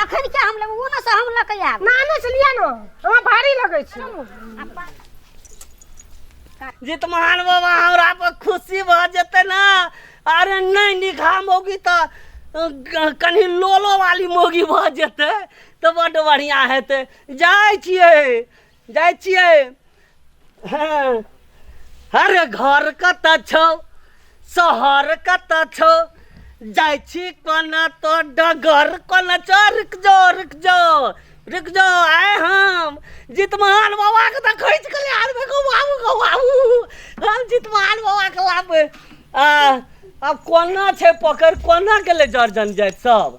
अखन के हम लेबो ना से हम ल के आब नाने से लिया ना हमरा भारी लगै छै जितमान बाबा हमरा पर खुशी भऽ जेतै ने अरे नहि निखा मौगी तऽ अ, ग- कनि लोलो वाली मौगी भऽ जेतै तऽ बड्ड बढ़िआँ हेतै जाइ छियै जाइ छियै हँ। अरे घर कतऽ छौ शहर कतऽ छौ जाइ छी कोना तो डगर कोना छौ रुक जो रुक जो रुक जो आए हम जितमान बाबा के तऽ खोज के ले आनबे गो बाबू गो बाबू हम जितमान बाबा के लाबे आ अब कोना छै पकड़ कोना गेलै जर्जन जाइत सब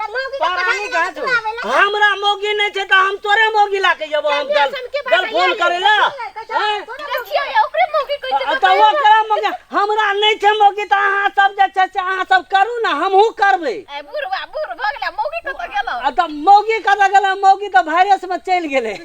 त मौगी के परानी पढ़ाई कहाँ से होई? आवेला हमरा मौगी नहीं छे त हम तोरे मौगी ला के जब हम कल कल फोन करे ला हैं? देखियो ये ओकरे मौगी कैसे आ, त वो करा मौगी हमरा नहीं छे मौगी त अहाँ सब जे छे से अहाँ सब करू ना हमहू करबे ए बुढ़वा बुढ़ भगला मौगी कत गेलो आ त मौगी कत गेले मौगी त वायरस में चल गेले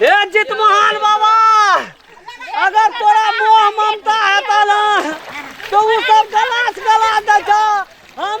हे जित महान बाबा अगर तोरा मोह ममता हेता ना तो उ सब गलास गला दे छो हम